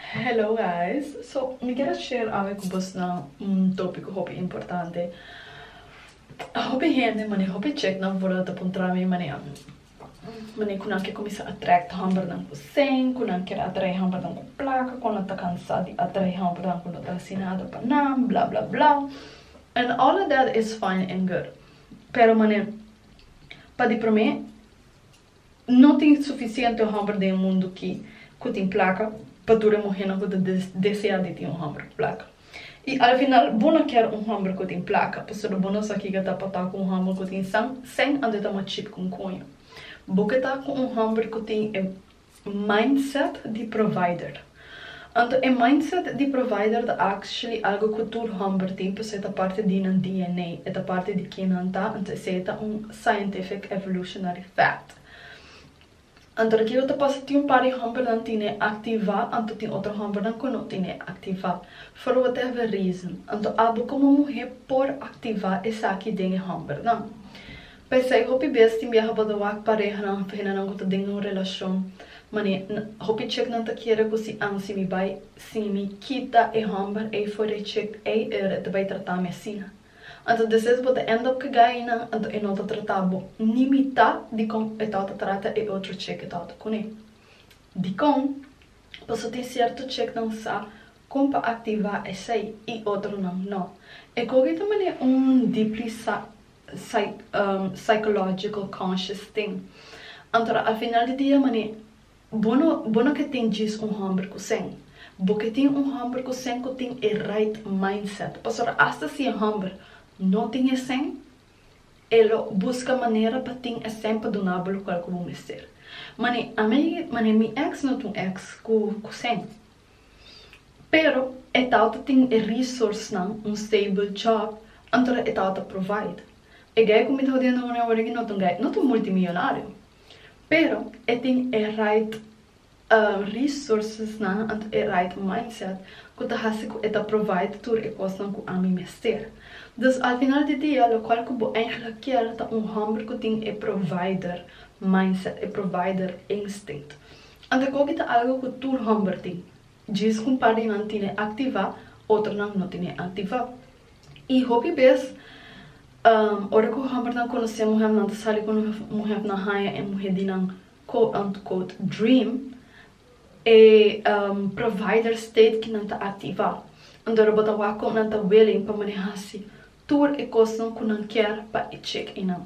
Hello guys, so mi kier a share awe cu bosnan un topico hopi importante. Hopi hende mane hopi checnan for lo ta puntra mi mane mane cu nan kier cuminsa attract hombernan cu sing, cu nan kier atrae hombernan cu placa, cu nan ta cansa di atrae hombernan cu no ta haci nada pa nan, bla bla bla. And all of that is fine and good pero mane pa di prome No tin sufisiente homber den e mundu ki ku tin plaka pa tur e muhénan ku ta deseá di tin un homber ku plaka. I al final bo no kier un homber ku tin plaka pasobra bo no sa kiko ta pa ta ku un homber ku tin san, sen anto e ta machip ku un koño. Bo ke ta ku un homber ku tin e Mindset di provider. Anto e mindset di provider ta actually algo cu tur homber tin pasobra e ta parti di nan DNA, e ta parti di quien nan ta, anto esey ta un scientific evolutionary fact. Anto aki lo ta pasa tin un par di hombernan tine activa anto tin otro hombernan cu no tine activa for whatever reason. Anto abo como muhe por activa esaki den e hombernan. P'esei hopi bes tin biaha pa ta wak parehanan òf henanan ku ta den un relashon manera nan hopi chiknan ta kere ku si ansi mi bai si mi kita e hòmber ei for e chik ei e re ta bai tratá mi asina. Anto despues bo ta end up kegá einan anto e no ta tratá bo ni mitá dikon e tawata trata e otro chik e tawata kuné. Dikon? Paso tin sierto chiknan sa kon pa aktivá esei i otronan no. E koki ta manera un dipli sa psychological conscious thing. Anto a final di dia mane bo no bo no ke tin djis un homber ku sen. Bo ke tin un homber ku sen ku tin e right mindset. Pasobra hasta si e homber no tin e sen e lo buska manera pa tin e sen pa duna bo lokual ku bo mester. Mane a mi mane mi ex no tin un ex ku sen. Pero e tawta tin e resourcenan, un stable job, anto e tawta provide. E guy ku mi ta hodiendo nguni awor aki no ta un guy, no ta un multimillonario, pero e tin e right resourcesnan anto e right mindset ku ta hasi ku e ta provide tur e kosnan ku ami mester. Dus al final di dia lokual ku bo eindiga kier ta un hòmber ku tin e provider mindset, e provider instinct. Ante koki ta algo ku tur hòmber tin, djis ku un par di nan tine aktivá, otronan no tine aktivá. I hopi bes, ora ku hòmbernan konosé muhènan ta sali ku muhènan haña e muhé di nan quote-unquote dream, e provider state ki nan ta aktivá. Antora bo ta wak kon nan ta willing pa manehá hasi tur e kosnan ku nan kier pa e chek einan.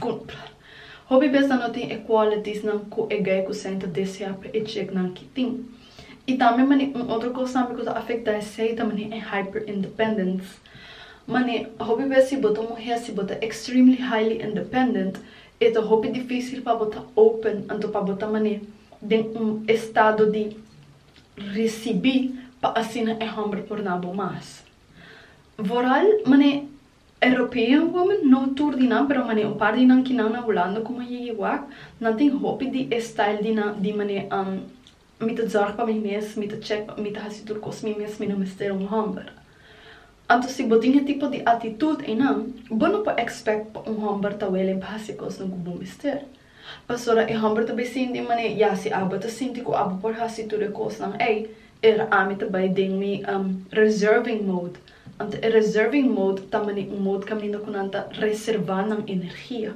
Good. Hopi bes nan no tin e qualities nan cu e guy cu Sam ta desea pa e chick nan ki tin. Y tambe mane un otro cos tambe cu ta afecta esey ta mane e hyper independence. Mane, hopi bes si bo ta muher si bo ta extremely highly independent e ta hopi dificil pa bo ta open anto pa bo ta mane den un estado di ricibi pa asina e homber por na bo mas. Vooral mane. European women, no tur di nan pero mane un par di nan ki nan na Hulanda ku man yegi wak, nan tin hopi di e style di nan di mane mi ta zorg pa mi mes, mi ta chek pa mi ta hasi tur kos mi mes, mi no mester un hòmber. Anto si bo tin e tipo di atitut einan, bo no por expect pa un hòmber ta welen pa hasi e kosnan ku bo mester. Pasobra e hòmber ta bai sinti i manera, Ya, si abo ta sinti ku abo por hasi tur e kosnan ei, er ami ta bai den mi reserving mode. Anto e reserving mode ta manera un mode kaminda ku nan ta reservá nan energia.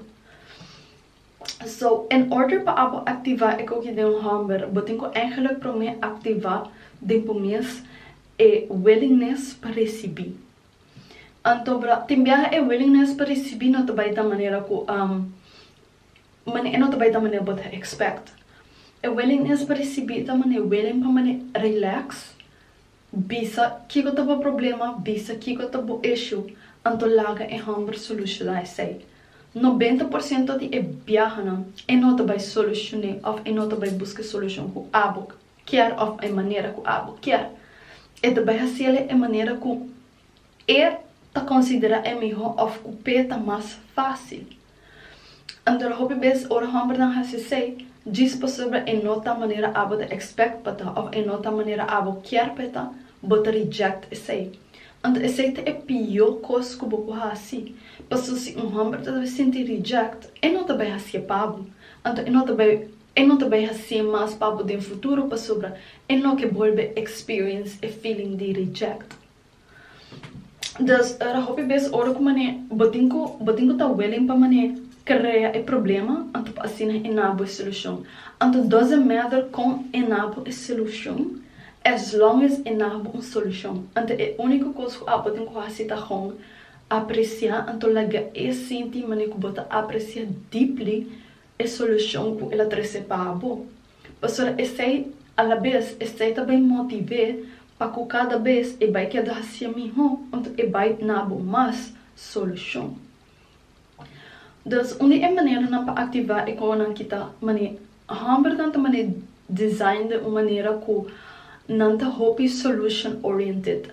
So, in order pa abo aktivá e koki den un hòmber, bo tin ku ègèlèk promé aktivá den bo mes e willingness pa risibí. Anto bra, tin biaha e willingness pa risibi no ta bai ta manera ku mane e no ta bai ta mane bo ta expect. E willingness pa risibi ta mane willing pa mane relax, bisa kiko ta bo problema, bisa kiko ta bo issue, anto laga e hòmber solushoná esei. Nobenta por siento di e biahanan e no ta bai solushoné òf e no ta bai buska e solushon ku abo. kier òf e manera ku abo kier. E ta bai hasiel e manera ku E ta konsiderá e mihó òf ku p'E ta mas fásil. Antora hopi bes ora hòmbernan hasi esei, djis pasobra e no ta manera abo ta èkspèkt pa ta òf e no ta manera abo kier pa e ta, bo ta rijèkt esei. Anto esei ta e pió kos ku bo por hasi. Paso si un hòmber ta sinti rijèkt, e no ta bai hasié pa bo, anto e no ta bai. E no ta bai hasié mas papo den futuro pasobra e no ke bolbe experience e feeling di reject. Dus ora hopi bes ora ku mané bo tin ku bo tin ku ta willing pa mané krea e problema anto pa asina e na bo e solushon. Anto doesn't matter kon e na bo e solushon as long as e na bo un solushon. Anto e uniko kos ku abo tin ku hasi ta hon apresiá anto lagaé sinti mané ku bo ta apresiá deeply e solushon ku el a trese pa bo. Pasobra esei, alabes esei ta bai motiv'é pa ku kada bes e bai keda hasié mihó unda e bai dna bo mas solushon. Dus, un di e maneranan pa aktivá e kokonan ki ta man'é hòmbernan ta man'é design den un manera ku nan ta hopi solution oriented.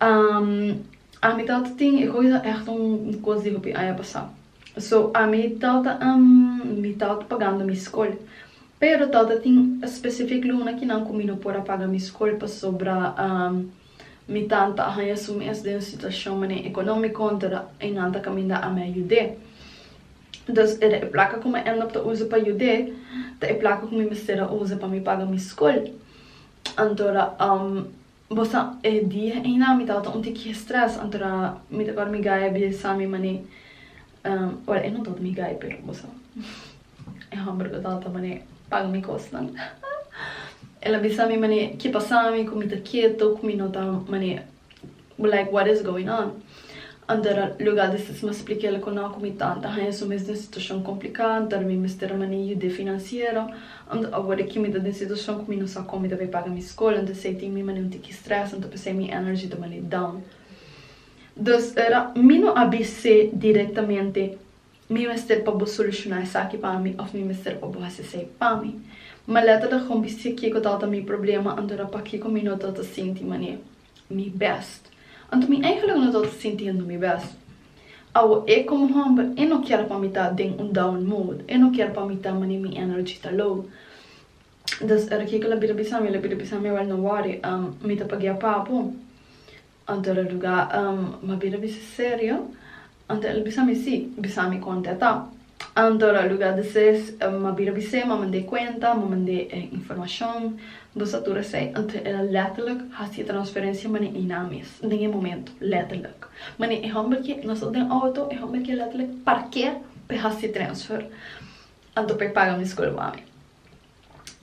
Ami tawata tin e koiza echt un kos di hopi aña pasá. So, ami tawata mi tawata pagando mi skol. Pero tawata tin specific luna ki nan ku mi no por a paga mi skol pasobra mi tan ta haña su mes den un situashon manera ekonómiko anto e nan ta kaminda ami a yud'é. Dus e plaka ku mi a end up ta usa pa yud'é ta e plaka ku mi mester a usa pa mi paga mi skol. Anto Bo sa, e dia einan mi tabata un tiki stress, antora mi ta kòrda mi gai a bisa Sami manei, buen e no tabata mi gai pero bo sa, e hòmber lo tabata manei paga mi kosnan, el a bisa mi manei ke pasa mi ku mi ta keto, ku mi no ta manei, bo like what is going on. An ta luga di stisma splica el cu no cu mi ta ta haña su mes den situacion complica, an ta mi mester mani yude financiero, an ta awor aki mi ta den situacion cu mi no sa con mi ta bay paga mi school, an ta esey tin mi mani un tiki stress, an ta pesey mi energy ta mani down. Dus ora mi no a bis'e directamente mi mester pa bo soluciona esaki pa mi of mi mester pa bo haci esey pa mi, ma letterlijk con bis'e kico ta ta mi problema, anto ora pakico mi no ta ta sinti mane. mi bèst. Anto mi eigenlijk no tabata sintiendo mi bèst. Awo e komo hòmber e no kier pa mi ta den un down mode, e no kier pa mi ta mane mi energy ta low. Dus e Rikico el a bira bisa mi, el a bira bisa mi awor no wòri, mi ta pagia papo. Anto el a ruga, um, m'a bira bisa serio? Anto el bisa mi, Sí, bisa mi kon ta ta. Anto lo luga di ses ma bira bis'é ma mand'é kuenta, ma mand'é e informashon, nos ta tur esei. Anto el a lèterlik hasi e transferensia manera Iná mes, den e momento, lèterlik. Manera e hòmber ke nos ta den outo, e hòmber ke lèterlik parkea p'e hasi e transfer, anto p'e paga mi skol wami.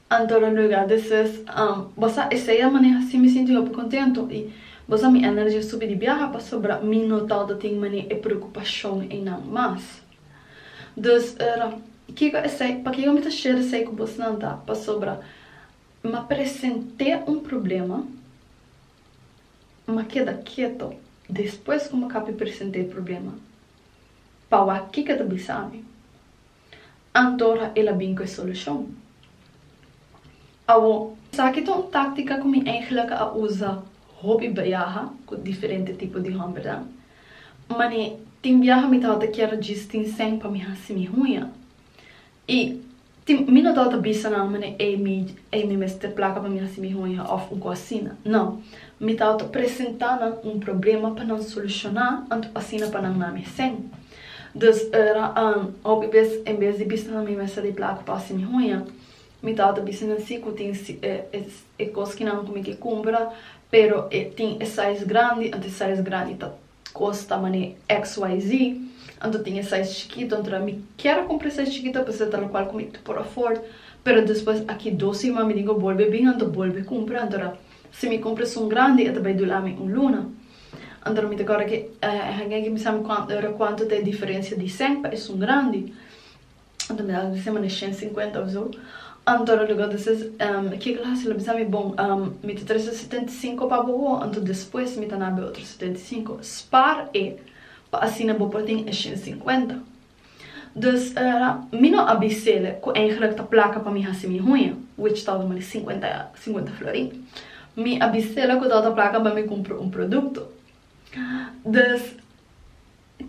Antoro Noigard de Sus, Bos a esei a maneha si mi sinti hopi kontentu i bos a mi ènergi a subi di biaha pasobra mi no ta ta tin manera e preokupashon einan mas. Dus era, kiko esei? Pakiko mi ta share esei ku bosnan ta pasobra m'a present'é un problema, m'a keda keto despues ku m'a kapi present'é e problema pa wak kiko e ta bisa mi. Antora el a bin ku e solushon. Awor, esaki ta un táktika ku mi eigenlik a usa hopi biaha ku diferente tipo di hòmbernan. Manera tin biaha mi tabata kier djis tin sèn pa mi hasi mi huña. I tin, mi no tabata bisa nan manera ei mi, ei mi mester plaka pa mi hasi mi huña òf un kos asina. Nò, mi tabata presentá nan un problema pa nan solushoná anto asina pa nan na mi sèn. Dus ora an, hopi bes en bes di bisa nan mi mester di plaku pa hasi mi huña, mi tata bisa nan si ku tin si e e kos ki nan ku mi ke kumpra, pero e tin e size grandi, anto e size grandi ta kosta manera XYZ, anto tin e size chikito, anto mi kier a kumpra e size chikito p'esei ta lokual ku mi ta por afòrd, pero despues aki dos siman mi tin ku bolbe bin, anto bolbe kumpra, anto si mi kumpra esun grandi e ta bai dura mi un luna. Anto mi ta kòrda ki hèn aki mi sabi kuantu ora kuantu ta e diferensia di sèn pa esun grandi anto mi ta hasi sema na shen sinkuenta of so anto lo luga ta ser kiko lo hasi lo bisa mi bon mi ta trese setenta i sinku pa bo awo anto despues mi ta na abe otro setenta i sinku spar e pa asina bo por tin e shen sinkuenta. Dus mi no a bisel cu eigenlijk ta placa pa mi haci mi huña, which tal vez mari cincuenta cincuenta florin. Mi a bisel cu tal ta placa pa mi cumpra un producto. Dus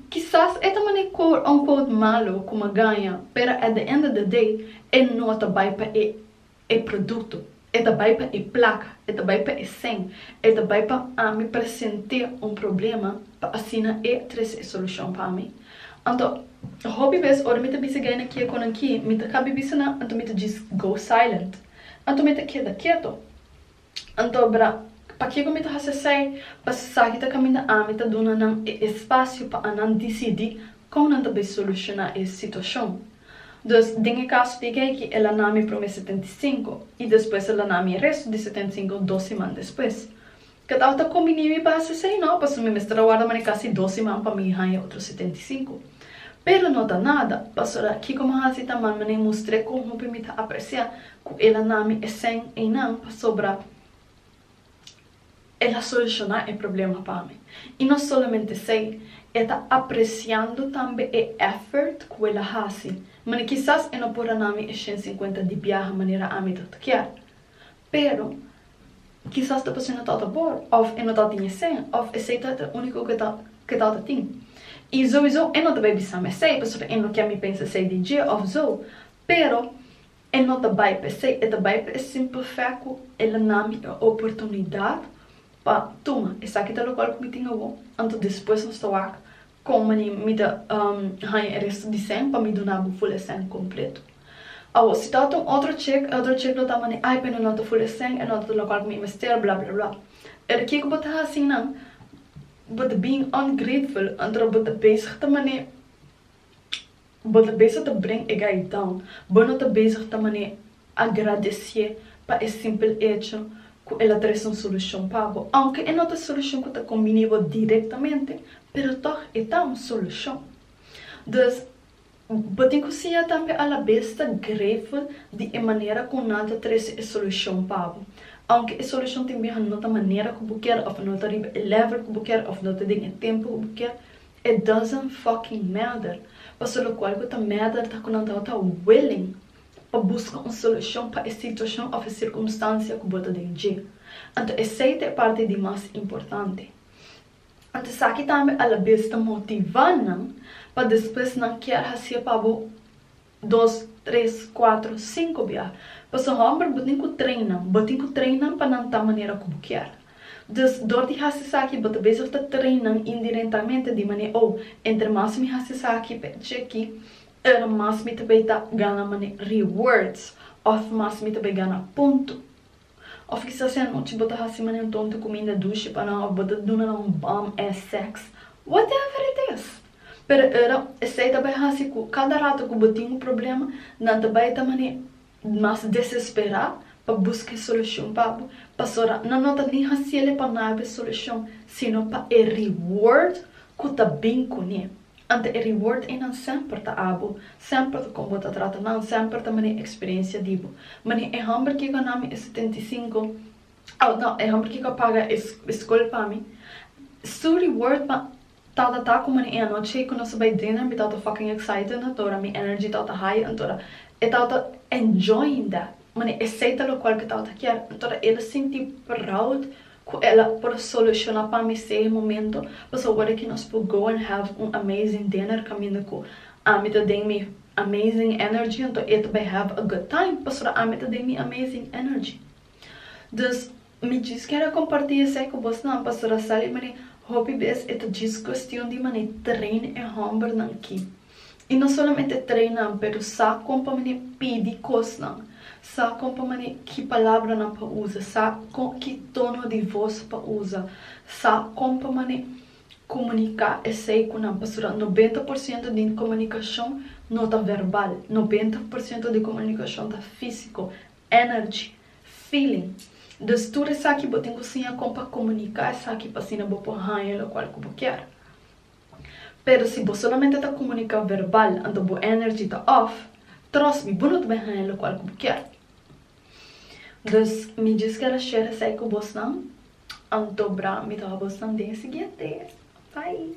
kisas e ta mane quote unquote malo cu mi a gaña, pero at the end of the day e no ta bay pa e e produkto, e ta bai pa e plaka, e ta bai pa e sèn, e ta bai pa ami present'é un problema pa asina e trese e solushon pa mi. Anto, hopi bes ora mi ta bisa guy nan ki e konanki, mi ta kabi bisa nan, anto mi ta djis go silent. Anto mi ta keda keto. Anto bra, pakico mi ta haci esai? Pa esaki ta caminda ami ta duna nan e espacio pa anan dicidi con nan ta bay soluciona e situacion. Dus, den e caso di Geikie el a nami prome setenta y cinco y despues el a nami e resto di setenta y cinco dos siman despues. Catawata combini mi pa haci esai? No, pasobra mi mester a warda mane casi dos siman pa mi haya otro setenta y cinco. Pero no ta nada, pasobra kico mi haci ta man mane mustr'e con hopi mi ta aprecia cu el a nami escen eynan pasobra el a soluciona e problema pa mi. Y no solamente esey, e ta apreciando tambe e effort cu el a haci. Mane, kisas e no por a nami e shen cincuenta di biaha manera ami ta ta kier, pero kisas ta pasobra e no ta ta por, of e no ta tin escen, of esey ta ta e unico cu e ta ta tin. Y sowiso e no ta bay bisami esey, pasobra e no kier mi pensa esey di dje of zo. Pero E no ta bai pa esei, e ta bai pa e simpel fé ku e la nan mi e oportunidat pa tuma esaki ta lokual ku mi tin awor, anto despues nos ta wak kon mania mi ta haña e resto di sèn pa mi duna bo ful e sèn kompletu. Awor, si ta ota un otro chek, e otro chek lo ta mane, ai, pero no ta ful e sèn, e no ta ta lokual ku mi mester, bla, bla, bla. Pero kiko bo ta hasi nan? Bo ta being ungrateful, anto bo ta bezig ta mane bo ta bezig ta bring e gaitan, bo no ta bezig ta man'é agradecié pa e simpel echo cu el a trece un solucion pa bo, aunke e no ta solucion cu ta combini bo directamente, pero tog e ta un solucion. Dus, bo tin cu siña tambe alabes ta grateful di e manera cu nan ta trece e solucion pa bo, aunke e solucion tin biaha no ta manera cu bo kier of no ta riba e level cu bo kier of no ta den e tempo cu bo kier, It doesn't fucking matter. Paso locual cu ta matter ta cu nan tawata ta willing pa busca un solucion pa e situacion of e circumstancia cu bo ta den dje. Anto esey ta e parti di mas importante. Anto esaki tambe a la bes ta motiva nan pa despues nan kier haci'e pa bo. dos, tres, cuatro, cinco bia. Pasobra homber bo tin cu treinnan, bo tin cu treinnan pa nan ta manera cu bo kier. Dus, dor di haci esaki bo ta bezig ta treinnan indirentamente di mane, Oh, entre mas mi haci esaki pa e cheki, er mas mi ta bay ta gana mane rewards of mas mi ta bay gana punto. Of kisas e anochi bo ta hasi mane un tonto kuminda dushi pa nan of bo ta duna nan un bom ass sex, whatever it is. Pero ora esei ta bai hasi ku kada rato ku bo tin un problema nan ta bai ta mane mas desesperá pa buska e solushon pa bo, pasobra nan no ta ni hasiel e pa nada e solushon, sino pa e reward ku ta bin kuné. Ante e reward einan semper ta abo, semper ta kon bo ta trata nan, semper ta mane experiencia di bo. Mane e homber kico a na mi e setenta i sinku, oh no, e homber kico a paga e scol pa mi, su reward pa tata ta cu mane e anochi cu nos a bay dinner mi tata ta fucking excited na tora mi energy tata ta high antora e tata ta enjoying that, mane esey ta locual cu e tata ta kier, antora el a sinti proud. cu el a por soluciona pa mi sey momento, pues awor aki nos por go and have un amazing dinner caminda cu ami ta den mi amazing energy, enton e ta bay have a good time pasobra ami ta den mi amazing energy. Dus mi djis kere comparti esey cu bosnan pasobra sali mane hopi bes e ta djis cuestion di mane train e hombernan aki. I no solamente trae nan, pero sa kon pa manera pidi kosnan, sa kon pa manera ki palabranan pa usa, sa kon ki tono di vos pa usa, sa kon pa manera komuniká esei ku nan. Pasobra nobenta por siento di komunikashon no ta verbal, nobenta por siento di komunikashon ta físiko, energy, feeling. Dus tur esaki bo tin ku siña kon pa komuniká esaki pa asina bo por haña lokual ku bo kier. Pero si bo solamente ta comunica verbal anto bo energy ta off, trust me bo no ta bin haya locual cu bo kier. Dus mi just kier share esai cu bosnan anto bra mi ta haw bosnan den e siguiente. Bye.